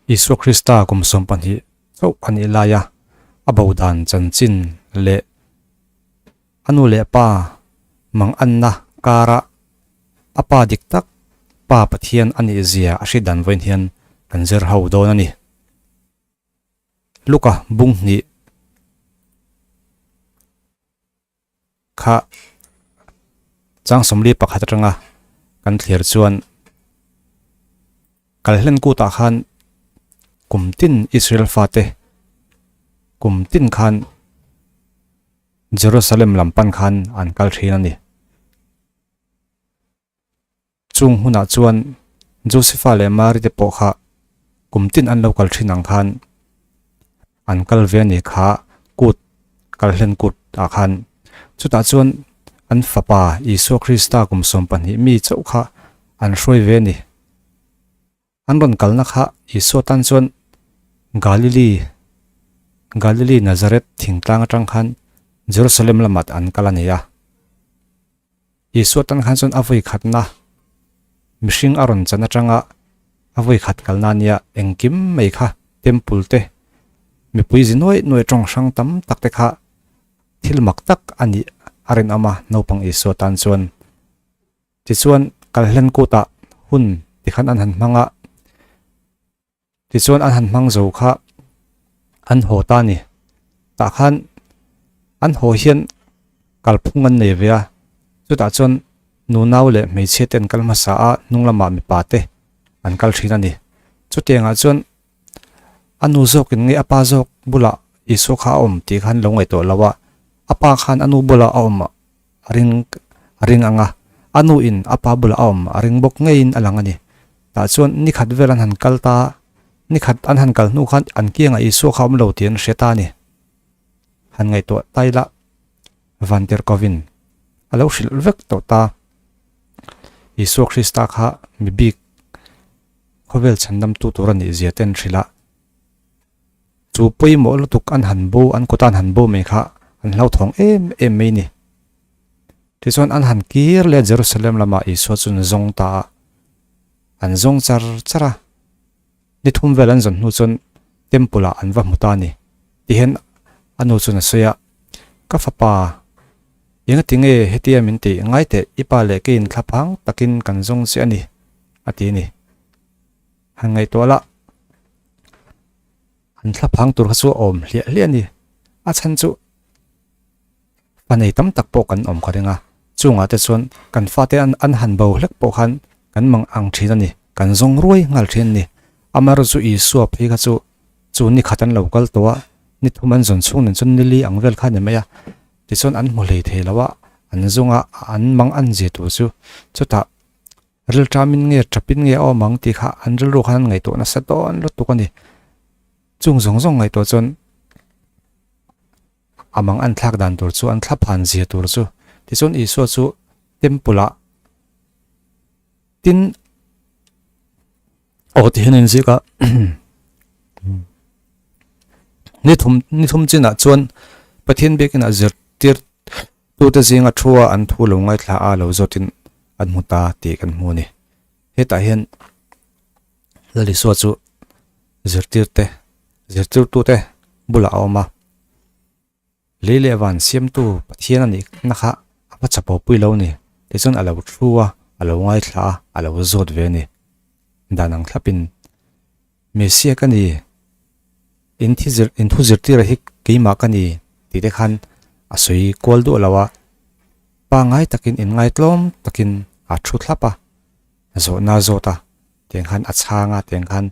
Isua Krista kum sawm pahnih chauh a nih laia a bo dan chanchin leh a nu leh pa manganna kara a pa dik tak Pa Pathian a nih zia a hriat dan vawiin hian kan zir ho dawn a ni. Luka bunghnih Kha chang sawmli pakhat atanga kan thlir chuan kal hlen kutah khan kum tin Israel fate kum tin khan Jerusalem lam pan khan an kal thin a ni. Chung hunah chuan Josepha leh Mary te pawh kha kum tin an lo kal thin ang khan an kal ve a ni kha kut kal hlen kut ah khan chutah chuan an fapa Isua Krista kum sawm pahnih mi chauh kha an hruai ve a ni. An rawn kalna kha Isua tan chuan Galili, Galili Nazareth thingtlang atang khan Jerusalem lamat an kal a ni a. Isua tan khan chuan a vawikhatna mihring a rawn chan atanga a vawikhat kalna ania engkim mai kha temple te mipui zi nuai nuai tawng hrang tam tak te kha thil mak tak a nih a rinawm a naupang Isua tan chuan Tichuan, kal hlen kutah hun tikhan an han hmang a, tichuan an han hmang zo kha an haw ta a ni. Tah khan an haw hian kalphung an nei ve a, chutah chuan nu nau leh hmeichhia te an kal hmasa a, hnung lamah mipa te an kal thin a ni. Chutiangah chuan a nu zawkin nge a pa zawk bulah Isua kha a awm tih kha an lo ngaih tawh lo a, a pa khan a nu bulah a awm A ring a ring ang a, a nu in a pa bulah a awm a ring bawk ngeiin a lang a ni. Tah chuan ni khat vel an han kal ta, ni khat an han kal hnu kha an kiangah Isua kha awm lo tih an hria ta a ni. Han ngaihtuah ta ila, Van Kerkhoven a lo hrilh vek tawh ta. Isua Krista kha mi bik khawvel chhandamtu tur a nih zia te an hrilh a, Chu pawimawh lutuk an han bu, an kuta'n han bu mai kha an hlauthawng em em mai ni. Tichuan an han kir leh a Jerusalem lamah Isua chuan zawng ta a, an zawng char char a. Ni thum vel an zawn hnu chuan Temple-ah an va hmu ta ni, ti hian a nu chuan a sawi a, Ka fapa, engatinge hetia min tih ngai teh, i pa leh ka in thlaphang takin kan zawng che a ni, a ti a ni. Han ngaihtuah lah. An thla phang tur kha chu a awm hliah hliah a ni. A chhan chu fa nei tam tak pawh kan awm kha ring a. Chungah te chuan kan fate an an han bo hlek pawh khan kan mang ang thin a ni. Kan zawng ruai nghal thin a ni. Amaherawhchu chu Isua phei kha chu chu ni khat an lo kal tawh a, ni thum an zawn chhung nen chuan ni li ang vel kha a ni mai a. Tichuan an hmu hlei thei loh a, an zunga an mang an zia tur chu chutah. Ril tamin nge ṭhapin nge a awm ang tih kha an rilru khan an ngaihtuah nasa dawn lutuk a ni. Chung zawng zawng ngaihtuah chuan a mang a an thlak dan tur chu an thla phan zia tur chu. Tichuan Isua chu temple ah tin aw tih hi an inziak a ni thum ni thum chinah chuan Pathian biakina zirtir Tute zinga thu a an thu lo ngaithla a lo zawt in an hmu ta tih kan hmu a ni. Hetah hian Lalisua chu zirtir te, zirtirtu te bulah a awm a. Lei leh van siamtu Pathian a nih na kha a hma chapawh pui lo a ni. Tichuan a lo thu a, a lo ngaithla a, a lo zawt ve a ni. Dan ang thlap in. Messia ka ni, in thi zir, in thu zirtira hi keimah ka ni tih te khan a sawi kual duah lo a, pangngai takin in ngaitlawm takin a thu thlap a, zawhna zawt a tiang khan a chhang a tiang khan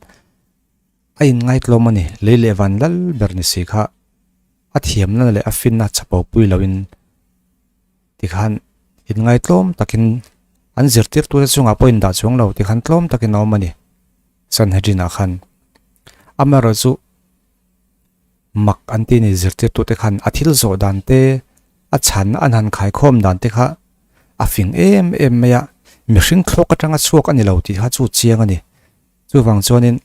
a in ngaitlawm a ni, lei leh van lal ber ni si kha a thiamna leh a finna chapopui loin. Tikhan in ngai tlawm takin an zirtirtu te chungah pawh indah chuang lo tikhan tlawm takin a awm a ni. Sanhedrinah khan amaerawh chu mak an tih a ni zirtirtute khan a thil zawh dan te, a chhan a hnan khai khawm dan te kha a fing em em mai a, mihring thlawk atanga chhuak a ni lo tih kha chu chiang a ni. Chuvang chuanin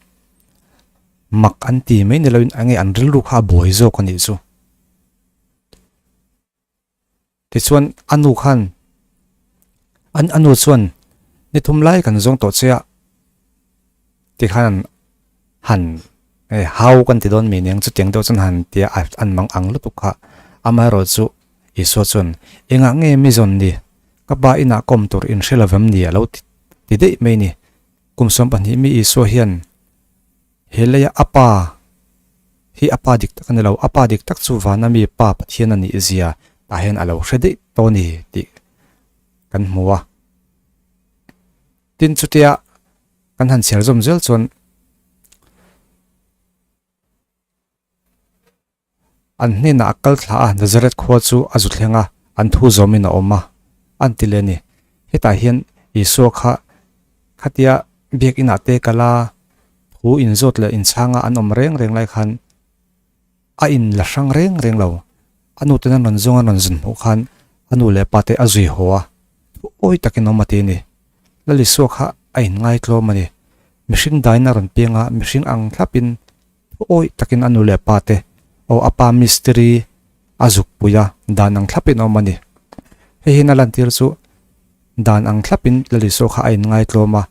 mak an ti mai ni loin enge an rilru kha a bawi zawk a nih chu. Tichuan a nu khan, an a nu chuan ni thum lai kan zawng tawh che a, ti khan an han e hau kan ti dawn mi nia, chu tiang deuh chuan han ti a, an mang ang lutuk kha, amaherawh chu Isua chuan engah nge mi zawn ni ka pa inah kawm tur in hre lovem ni a lo ti daih mai ni, kum sawm pahnih mi Isua hian, He leia a pa hi a pa dik tak a ni lo, a pa dik tak chu vana mi pa Pathian a nih zia tah hian a lo hre daih tawh a ni tih kan hmu a. Tin chutia kan han chhiar zawm zel chuan, An hnenah a kal thla a, Nazareth khua chu a zu thleng a, an thu zawmin a awm a, an ti le ni. Hetah hian Isua kha khatia Biakinah te kal a, thu inzawt leh inchhanga an awm reng reng lai khan a in la hrang reng reng lo. A nu ten an rawn zawng an rawn zun hmuh khan a nu leh a pa te a zui haw a, thu awi takin a awm a ti ni. Lalisua kha a in ngaitlawm a ni, mihring daina a rawn peng a, mihring ang thlapin Awih takin a nu leh pa te, aw a pa mistiri a zukpui a, dan ang thlapin a awm a ni. Hei hian a lantir chu dan ang thlapin Lalisua kha a inngaitluam a,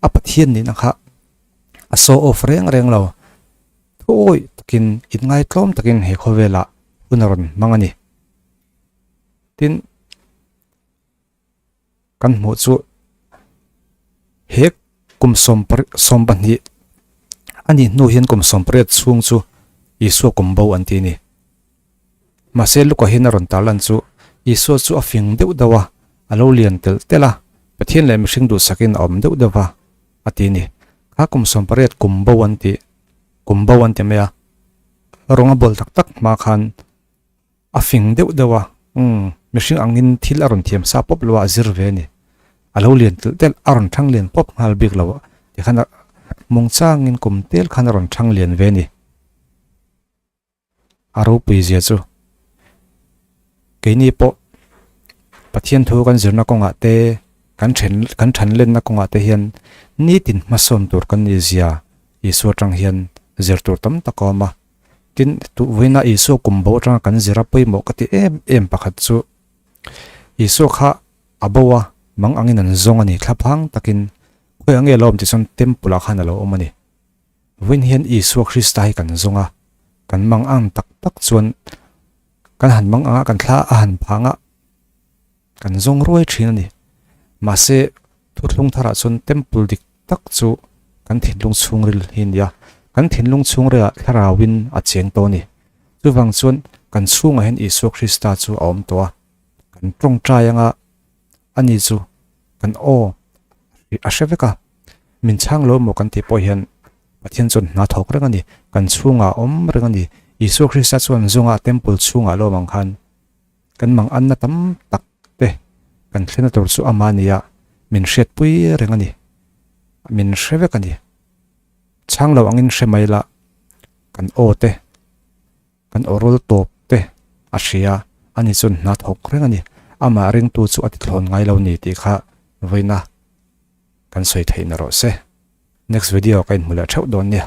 a Pathian nihna kha a show off reng reng lo. Thu awih takin inngaitluam takin he khawvela hun a rawn hmang a ni. Tin, Kan hmuh chu he kum sawmpari sawm pahnih a nih hnu hian kum sawmpariat chhung chu Isua kum bo an tih a ni. Mahse Luka hian a rawn tar lan chu Isua chu a fing deuh deuh a, a lo lian telh telh a, Pathian leh mihring duhsakin a awm deuh deuh a, a ti a ni. Kha kum sawmpariat kum bo an tih, kum bo an ti mai a, rawng a bawl tak tak hma khan, A fing deuh deuh a, umm, mihring angin thil a rawn thiam sa pawp loha a zir ve a ni. A lo lian telh telh, a rawn thlang lian pawp nghal bik lo tikhan a hmung changin kum tel khan a rawn thlang lian ve a ni. A ropui zia chu, keini pawh Pathian thu kan zirna kawngah te, kan then, kan then lenna kawngah te hian nitin hmasawm tur kan ni zia Isua atang hian zir tur tam tak a awm a. Tin, tupuina Isua kum bo atanga kan zira pawimawh ka ti em em pakhat chu, Isua kha a bo a mang angin an zawng a ni thlap hang takin khawi ange lo awm tih chuan temple ah khan a lo awm a ni. Vawiin hian Isua Krista hi kan zawng a, kan mang ang tak tak chuan kan han mang ang a, kan thla a han phah ang a. Kan zawng ruai thin a ni. Mahse, Thutthlung Tharah chuan temple dik tak chu kan thinlung chhungril hi a ni a. Kan thinlung chhungrilah Thlarauvin a cheng tawh a ni. Chuvang chuan kan chhungah hian Isua Krista chu a awm tawh a. Kan tawngtai anga ani chu kan aw a hre vek a. Min chhang lo maw kan tih pawh hian Pathian chuan hna thawk reng a ni. Kan chhungah a awm reng a ni. Isua Krista chuan zawngah temple chhungah lawmang khan Kan mang anna tam tak te kan thlena tur chu ama nia min hriatpui reng a ni. Min hre vek a ni. Chhanglo angin hre mai la kan aw te, kan awrul tawp te a hria. Ani chuan hna thawk reng a ni. Ama ringtu chu a tithlawn ngai lo ni tih kha vawiina kan sawi theihna rawh se. Next video ka inhmu leh theuh dawn nia.